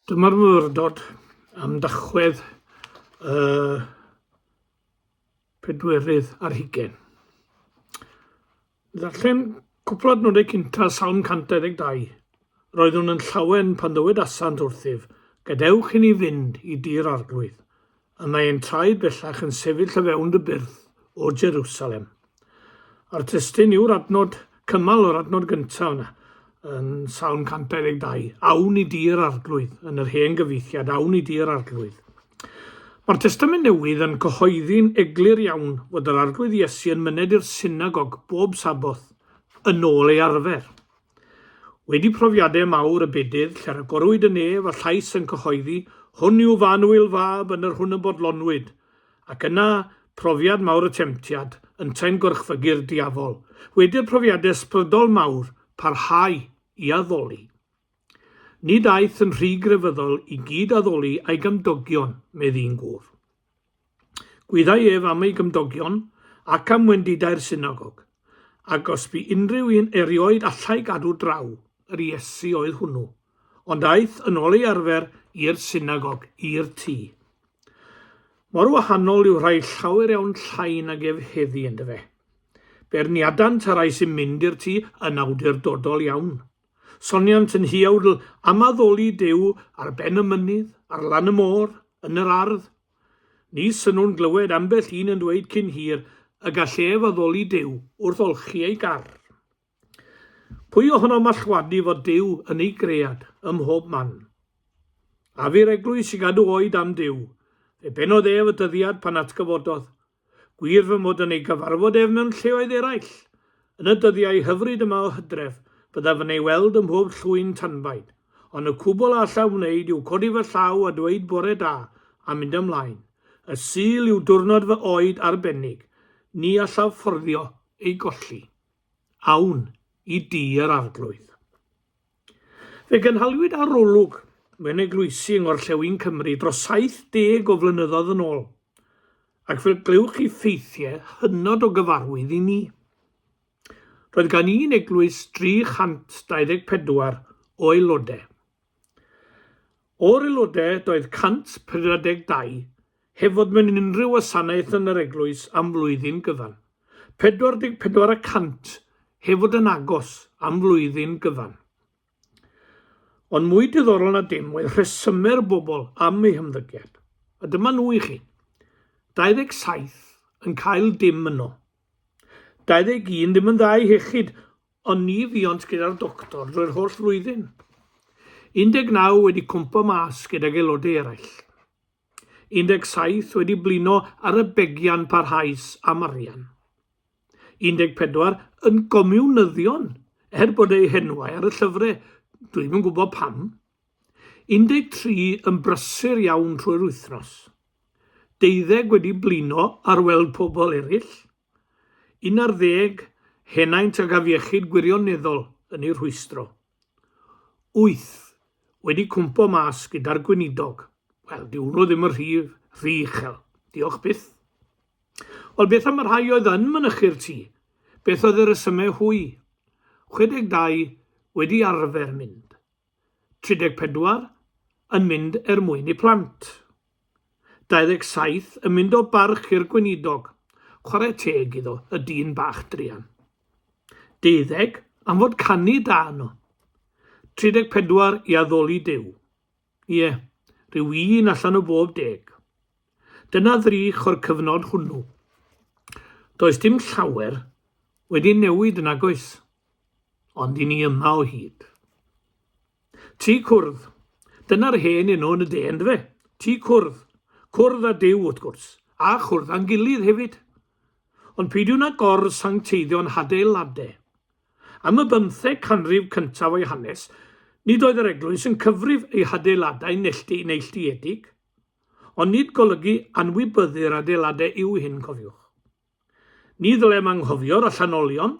Dyma'r myfyrdod am dachwedd y pedwerydd ar hugen. Ddarllen cwpl adnodau cynta Salm 122. Roeddwn yn llawen pan ddywed asant wrthyf, gadewch i ni fynd i dir arglwydd. A mae ein traed bellach yn sefyll o fewn dy byrth, O Jerusalem. A'r testun yw'r adnod cymal o'r adnod gyntaf yna, yn Salm 122. Awn i dir arglwydd, yn yr hen gyfeithiad, awn i dir arglwydd. Mae'r Testament Newydd yn cyhoeddi'n eglur iawn fod yr Arglwydd Iesu yn myned i'r synagog bob Saboth yn ôl ei arfer. Wedi profiadau mawr y bedydd, lle rhagorwyd yn nef a llais yn cyhoeddi, Hwn yw fy annwyl fab, yn yr hwn y bodlonwyd. Ac yna, profiad mawr y temtiad, yntau'n gorchfygu'r diafol. Wedi'r profiadau ysbrydol mawr, parhau i addoli. Nid aeth yn rhy grefyddol i gyd-addoli â'i gymdogion, medd un gŵr. Gwyddai ef am ei gymdogion ac am wendidau'r synagog, ac os bu unrhyw un erioed allai gadw draw, yr Iesu oedd hwnnw. Ond aeth yn ôl ei arfer i'r synagog, i'r tŷ. Mor wahanol yw rhai llawer iawn llai nag ef heddi, yndyfe? Beirniadant y rhai sy'n mynd i'r tŷ yn awdurdodol iawn, Soniant yn huawdl am addoli Duw ar ben y mynydd, ar lan y môr, yn yr ardd. Ni synnwn glywed ambell un yn dweud cyn hir y gall ef addoli Duw wrth olchi ei gar. Pwy ohonom mallwadu fod Duw yn ei gread ym mhob man? A fu'r eglwys i gadw oed am Duw? Fe benodd ef y dyddiad pan atgyfododd Gwir fy mod yn ei gyfarfod ef mewn lleoedd eraill. Yn y dyddiau hyfryd yma o Hydref, byddaf yn ei weld ym mhob llwyn tanbaid, ond y cwbl a allaf wneud yw codi fy llaw a dweud bore da, a mynd ymlaen. Y Sul yw diwrnod fy oed arbennig. Ni allaf fforddio ei golli. Awn i dŷ yr Arglwydd. Fe gynhaliwyd arolwg mewn eglwysi yng Ngorllewin Cymru dros 70 o flynyddoedd yn ôl, ac fel glywch chi ffeithiau hynod o gyfarwydd i ni. Roedd gan un eglwys 324 o aelodau. O'r aelodau doedd 132 heb fod mewn unrhyw wasanaeth yn yr eglwys am flwyddyn gyfan, 44 y cant heb fod yn agos am flwyddyn gyfan. Ond mwy diddorol na dim oedd rhesymau'r bobl am eu hymddygiad, a dyma nhw i chi. 27 yn cael dim yno. 21 ddim yn dda i hechyd, Ond ni fuont gyda'r doctor drwy'r holl flwyddyn. 19 wedi cwmpo mas gydag aelodau eraill. 17 wedi blino ar y begian parhaus am arian. 14 yn gomiwnyddion er bod eu henwau ar y llyfrau, dwi ddim yn gwybod pam. 13 yn brysur iawn trwy'r wythnos. Deuddeg wedi blino ar weld pobl eraill. 11, henaint ag afiechyd gwirioneddol yn ei rhwystro. 8, wedi cwmpo mas gyda'r gweinidog. Wel, dyw hwnnw ddim yn rhy, rhy uchel. Diolch byth. Wel, beth am y rhai oedd yn mynychu'r tŷ? Beth oedd y resymau hwy? 62, wedi arfer mynd. 34 yn mynd er mwyn y plant. 27 yn mynd o barch i'r gweinidog, chwarae teg iddo, y dyn bach druan. Deuddeg am fod canu da yno. 34 i addoli Duw. Ie, rhyw un allan o bob deg. Dyna ddrych o'r cyfnod hwnnw. Does dim llawer wedi newid yn agos. Ond i ni yma o hyd. Ti cwrdd. Dyna'r hen enw yn y de, yn dyfe? Ti cwrdd. Cwrdd a Dyw, wrth gwrs, a chwrdd â'n gilydd hefyd. Ond peidiwn â gor-sancteiddio'n hadeiladau. Am y bymtheg canrif cyntaf o'i hanes, nid oedd yr eglwys yn cyfrif ei hadeiladau nellti neilltuedig, ond nid golygu anwybyddu'r adeiladau yw hyn, cofiwch. Ni ddylem anghofio'r allanolion,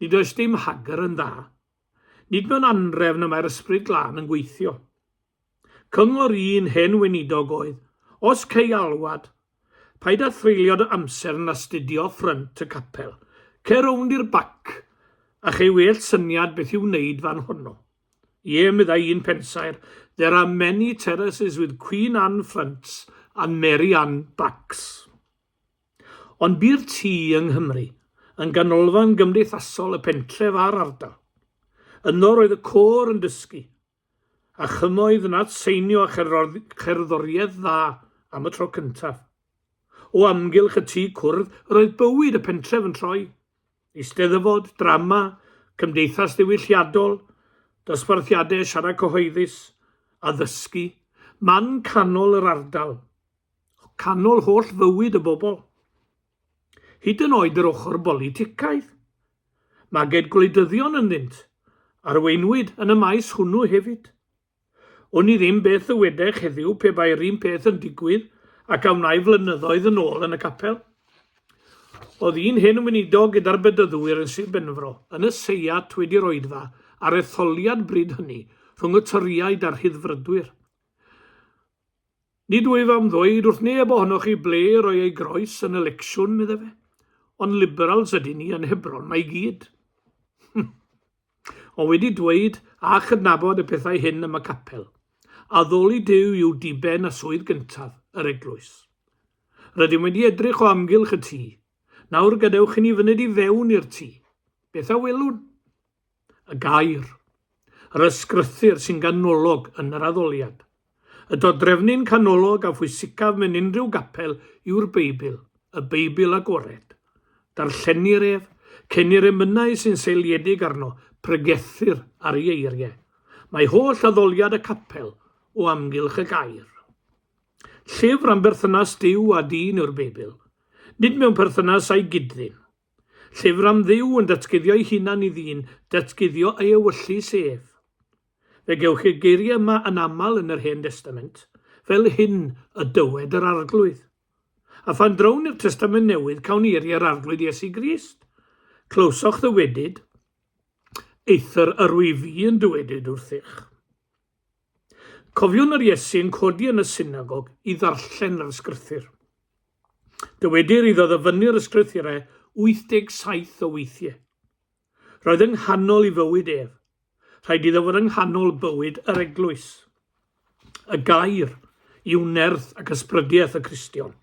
nid oes dim hagr yn dda. Nid mewn anrefn y mae'r Ysbryd Glân yn gweithio. Cyngor un hen weinidog oedd, Os cei alwad, paid â threulio dy amser yn astudio ffrynt y capel, cer rownd i'r bac a chei well syniad beth i'w wneud fan honno. Ie, meddai un pensaer, there are many terraces with Queen Anne fronts and Mary Anne backs. Ond bu'r tŷ yng Nghymru, yn ganolfan gymdeithasol y pentref a'r ardal. Yno roedd y côr yn dysgu, a chymoedd yn adseinio a cherddoriaeth dda am y tro cyntaf. O amgylch y tŷ cwrdd yr oedd bywyd y pentref yn troi. Eisteddfod, drama, cymdeithas ddiwylliadol, dosbarthiadau siarad cyhoeddus, addysgu, man canol yr ardal, o ganol holl fywyd y bobl, hyd yn oed yr ochr boliticaidd. Maged gwleidyddion ynddynt, arweinwyd yn y maes hwnnw hefyd. Wn i ddim beth ddywedech heddiw pe bai'r un peth yn digwydd ac a wnai flynyddoedd yn ôl yn y capel. Oedd un hen weinidog gyda'r Bedyddwyr yn Sir Benfro yn y Seiat wedi roedfa ar etholiad bryd hynny rhwng y Torïaid a'r Rhyddfrydwyr. Nid wyf am ddweud wrth neb ohonoch chi ble i roi ei groes yn y lecsiwn, medda fe, ond Liberals ydyn ni yn Hebron 'ma i gyd. ond wedi dweud a chydnabod y pethau hyn am y capel, addoli Duw yw diben a swydd gyntaf yr eglwys. Rydym wedi edrych o amgylch y tŷ. Nawr gadewch i ni fyned i fewn i'r tŷ. Beth a welwn? y gair, yr ysgrythur sy'n ganolog yn yr addoliad. Y dodrefnyn canolog a phwysicaf mewn unrhyw gapel yw'r Beibl, y Beibl agored. Darllenir ef, cenir emynau sy'n seiliedig arno, pregethir ar ei eiriau. Mae holl addoliad y capel o amgylch y gair. Llyfr am berthynas Duw a dyn yw'r Beibl, nid mewn perthynas â'i gyd-ddyn, Llyfr am Dduw yn datguddio'i hunan i ddyn, datguddio ei ewyllys ef. Fe gewch chi'r geiriau yma yn aml yn yr Hen Destament, Fel hyn y dywed yr Arglwydd. A phan drown i'r Testament Newydd, cawn ni eiriau'r Arglwydd Iesu Grist. Clywsoch ddywedyd, Eithr yr wyf i yn dywedyd wrthych. Cofiwn yr Iesu'n codi yn y synagog i ddarllen yr ysgrythur. Dywedir iddo ddyfynnu'r ysgrythurau 87 o weithiau. Roedd yng nghanol i fywyd ef. Rhaid iddo fod yng nghanol bywyd yr eglwys. Y gair yw nerth ac ysbrydiaeth y Cristion.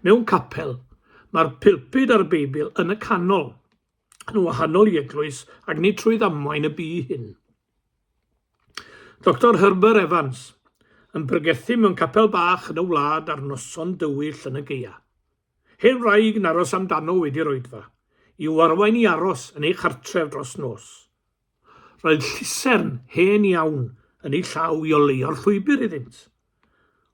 Mewn capel, mae'r pilpud a'r Beibl yn y canol, yn wahanol i eglwys ac ni trwy ddamwain y bu hyn. Doctor Herbert Evans, yn pregethu mewn capel bach yn y wlad ar noson dywyll yn y gaeaf. Hen wraig yn aros amdano wedi'r oedfa, i'w arwain i aros yn ei chartref dros nos. Roedd llusern hen iawn yn ei llaw i oleuo'r llwybr iddynt.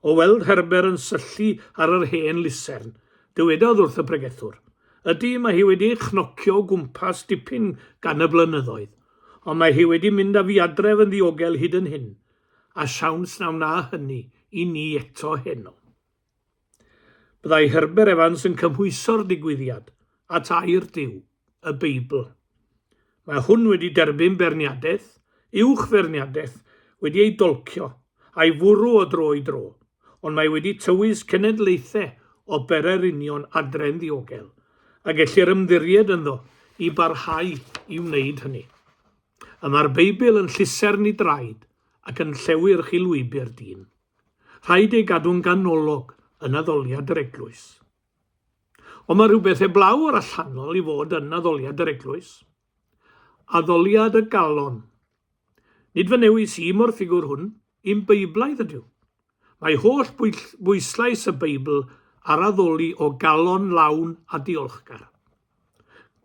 O weld Herbert yn syllu ar yr hen lusern, dywedodd wrth y pregethwr, Ydy, mae hi wedi chnocio o gwmpas dipyn gan y blynyddoedd, ond mae hi wedi mynd â fi adref yn ddiogel hyd yn hyn, a siawns na wna hynny i ni eto heno. Byddai Herbert Evans yn cymhwyso'r digwyddiad at air Duw, y Beibl. Mae hwn wedi derbyn beirniadaeth, uwch feirniadaeth, wedi ei dolcio, a'i fwrw o dro i dro, ond mae wedi tywys cenedlaethau o berau'r union adre'n ddiogel, a gellir ymddiried ynddo i barhau i wneud hynny. Y mae'r Beibl yn llusern i draed ac yn llewyrch i lwybr dyn. Rhaid ei gadw'n ganolog yn addoliad yr eglwys. Ond mae rhywbeth heblaw o'r allanol i fod yn addoliad yr eglwys. Addoliad y galon. Nid fy newis i mo'r ffigwr hwn, un Beiblaidd ydyw. Mae holl bwyslais y Beibl ar addoli o galon lawn a diolchgar.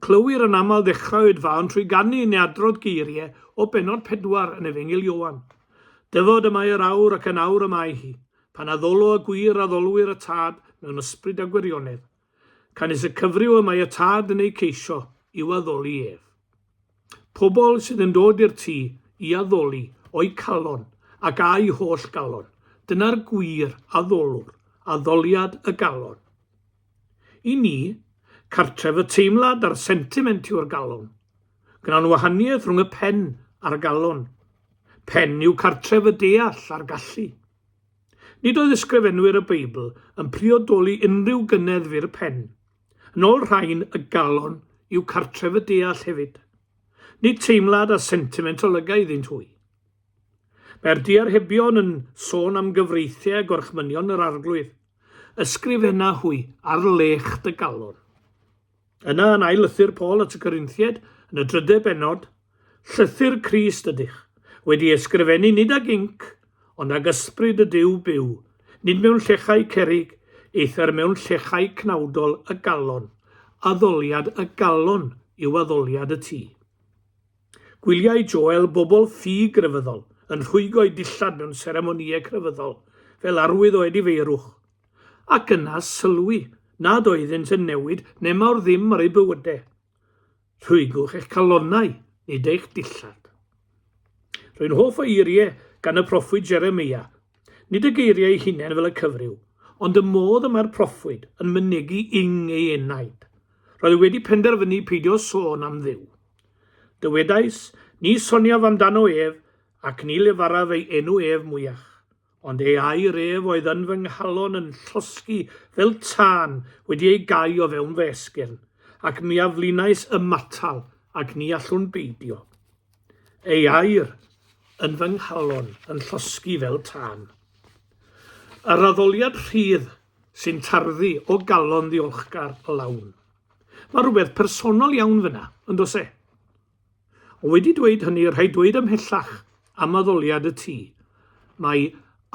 Clywir yn aml ddechrau oedfaon trwy ganu neu adrodd geiriau o bennod pedwar yn Efengyl Ioan. Dyfod y mae yr awr ac yn awr y mae hi, pan addolo y gwir addolwyr y Tad mewn ysbryd a gwirionedd. Canys y cyfryw y mae y Tad yn eu ceisio i'w addoli ef. Pobl sydd yn dod i'r tŷ i addoli o'u calon ac â'u holl galon, dyna'r gwir addolwr, addoliad y galon. I ni, cartref y teimlad a'r sentiment yw'r galon. Gwnawn wahaniaeth rhwng y pen a'r galon. Pen yw cartref y deall a'r gallu. Nid oedd ysgrifenwyr y Beibl yn priodoli unrhyw gynneddf i'r pen. Yn ôl rhain, y galon yw cartref y deall hefyd. Nid teimlad a sentiment olyga iddynt hwy. Mae'r diarhebion yn sôn am gyfreithiau a gorchmynion yr arglwydd. Ysgrifena hwy ar lech dy galon. Yna yn ail lythyr Paul at y Corinthiaid, yn y drydedd bennod, Llythyr Crist ydych, wedi ei ysgrifennu nid ag inc, ond ag ysbryd y Duw byw, nid mewn llechau cerrig, eithr mewn llechau cnawdol y galon, addoliad y galon yw addoliad y tŷ. Gwyliai Joel bobl ffug grefyddol yn rhwygo'u dillad mewn seremonïau crefyddol fel arwydd o edifeirwch, ac yna sylwi nad oeddynt yn newid nemawr ddim ar eu bywydau. Rhwygwch eich calonnau, nid eich dillad. Rwy'n hoff o eiriau gan y proffwyd Jeremia, nid y geiriau eu hunain fel y cyfryw, ond y modd y mae'r proffwyd yn mynegi ing ei enaid. Roedd e wedi penderfynu peidio sôn am Dduw. Dywedais, Ni soniaf amdano ef, ac ni lefaraf ei enw ef mwyach. Ond ei air ef oedd yn fy nghalon yn llosgi fel tân wedi ei gau o fewn fy esgyrn, ac mi a flinais ymatal, ac ni allwn beidio. Ei air yn fy nghalon yn llosgi fel tân. Yr addoliad rhydd sy'n tarddu o galon ddiolchgar lawn. Mae rhywbeth personol iawn fyna, yn does e? Ond wedi dweud hynny, rhaid dweud ymhellach am addoliad y tŷ, mae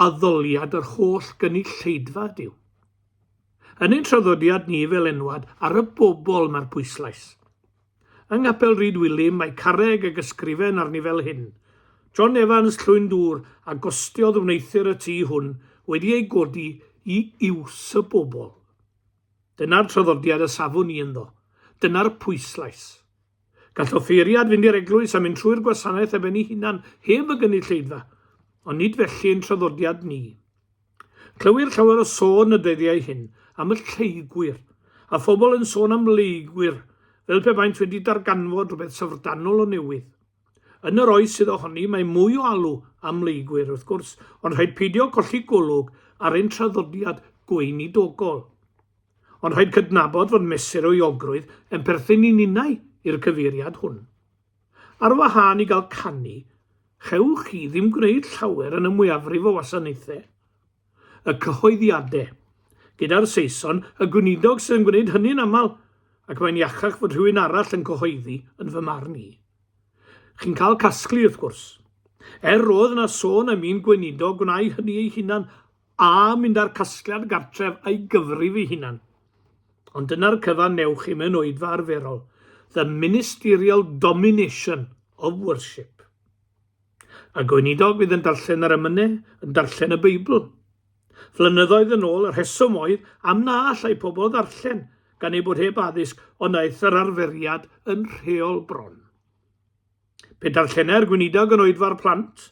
addoliad yr holl gynulleidfa Duw. Yn ein traddodiad ni fel enwad ar y bobl mae'r pwyslais. Yng Nghapel Rhyd Wilym mae carreg ag ysgrifen arni fel hyn, John Evans Llwyn Dŵr a gostiodd wneuthur y tŷ hwn wedi ei godi i iws y bobl. Dyna'r traddodiad y safwn ni ynddo. Dyna'r pwyslais. Gall offeiriad fynd i'r eglwys a mynd trwy'r gwasanaeth ef yn ei hunan heb y gynulleidfa, ond nid felly ein traddodiad ni. Clywir llawer o sôn y dyddiau hyn am y lleygwyr, a phobl yn sôn am leygwyr, fel pe baent wedi darganfod rhywbeth syfrdanol o newydd. Yn yr oes sydd ohoni, mae mwy o alw am leygwyr, wrth gwrs, ond rhaid peidio colli golwg ar ein traddodiad gweinidogol. Ond rhaid cydnabod fod mesur o iogrwydd yn perthyn i ninnau i'r cyfeiriad hwn. Ar wahân i gael canu, chewch chi ddim gwneud llawer yn y mwyafrif o wasanaethau. y cyhoeddiadau. Gyda'r Saeson, y Gweinidog sydd yn gwneud hynny'n aml, ac mae'n iachach fod rhywun arall yn cyhoeddi, yn fy marn i. Chi'n cael casglu, wrth gwrs. Er roedd yna sôn am un Gweinidog gwneud hynny ei hunan, a mynd â'r casgliad gartref a'i gyfrif ei hunan. Ond dyna'r cyfan newch chi mewn oedfa arferol, the ministerial domination of worship. A gweinidog fydd yn darllen yr emynau yn darllen y Beibl. Flynyddoedd yn ôl, y rheswm oedd am na allai pobl ddarllen gan eu bod heb addysg, ond aeth yr arferiad yn rheol bron. Pe darllenai'r gweinidog yn oedfa'r plant,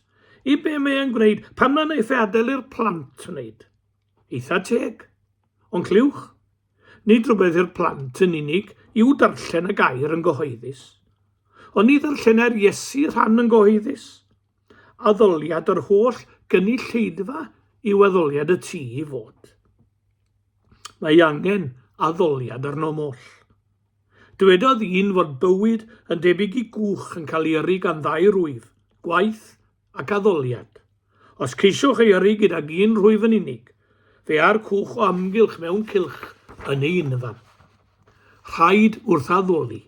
i be mae e'n gwneud, pam na naiff e adael i'r plant wneud? Eitha teg. Ond clywch, Nid rhywbeth i'r plant yn unig yw darllen y gair yn gyhoeddus. Ond ni ddarllenai'r Iesu rhan yn gyhoeddus. Addoliad yr holl gynulleidfa yw addoliad y tu i fod. Mae angen addoliad arno moll. Dywedodd un fod bywyd yn debyg i gwch yn cael ei yrru gan ddau rwyf, gwaith ac addoliad. Os ceisiwch ei yrru gydag un rhwyf yn unig, fe a'r cwch o amgylch mewn cylch yn ei unfan. Rhaid wrth addoli.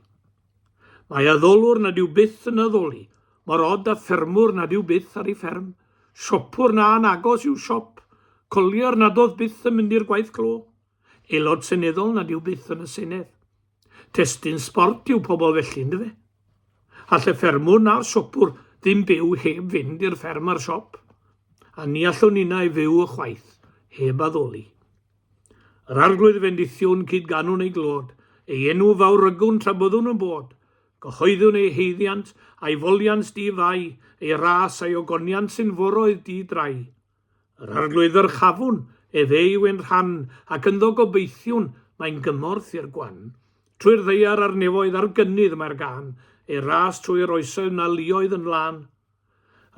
Mae addolwr nad yw byth yn addoli, mor od a ffermwr nad yw byth ar ei fferm, siopwr na'n agos i'w siop, collier nad oedd byth yn mynd i'r gwaith clo, aelod seneddol nad yw byth yn y Senedd. Testun sbort yw pobl felly, yndyfe? All y ffermwr na'r siopwr ddim byw heb fynd i'r fferm a'r siop, a ni allwn ninnau fyw ychwaith heb addoli. Yr arglwydd fendithiwn cyd ganwn ei glod, ei enw fawrygwn tra byddwn yn bod, gyhoeddwn ei haeddiant a'i foliant di-fai, ei ras a'i ogoniant sy'n foroedd di-drai. Yr Arglwydd ddyrchafwn ef eu yn rhan, ac ynddo gobeithiwn mae'n gymorth i'r gwan. Trwy'r ddaear a'r nefoedd a'r gynnydd mae'r gân, ei ras trwy'r oesoedd na luoedd yn lân.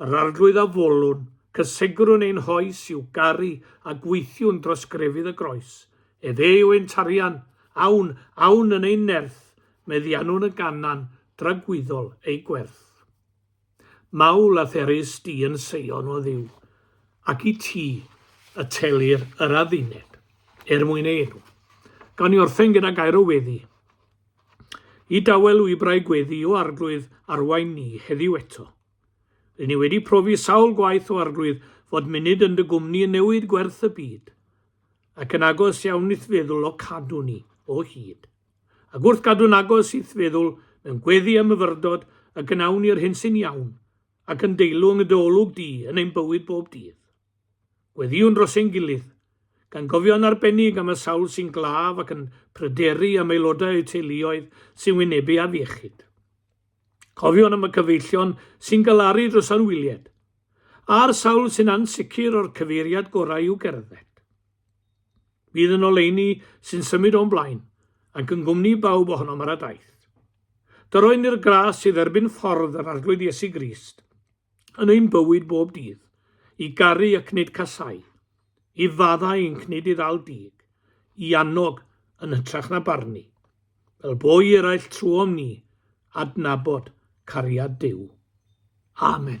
Yr Arglwydd a folwn, cysegrwn ein hoes i'w garu a gweithiwn dros grefydd y groes. Ef eu ein tarian, awn, awn yn ein nerth, meddiannwn y ganan dragwyddol ei gwerth. Mawl a therys di yn seion o Dduw, ac i ti y telir yr adduned, er mwyn ei enw. Gawn ni orffen gyda gair o weddi. I dawel wybrau gweddi o arglwydd arwain ni heddiw eto. Rydyn ni wedi profi sawl gwaith o arglwydd fod munud yn dy gwmni yn newid gwerth y byd, ac yn agos iawn i'th feddwl o cadw ni o hyd. Ac wrth gadw'n agos i'th feddwl mewn gweddi a myfyrdod y gnawn ni'r hyn sy'n iawn ac yn deilwng y dy olwg di yn ein bywyd bob dydd. Gweddiwn dros ein gilydd, gan gofio yn arbennig am y sawl sy'n glaf ac yn pryderu am aelodau eu teuluoedd sy'n wynebu afiechyd. Cofion am y cyfeillion sy'n galaru dros anwyliad, a'r sawl sy'n ansicr o'r cyfeiriad gorau i'w gerdded. Bydd yn oleuni sy'n symud o'n blaen, ac yn gwmni bawb ohonom ar y daith. Dyroen ni'r gras i dderbyn ffordd yr Arglwydd Iesu Grist yn ein bywyd bob dydd, i garu ac nid casau, i faddau yn cnid i ddal dig, i annog yn hytrach na barnu, fel bo i eraill trwom ni adnabod cariad Duw. Amen.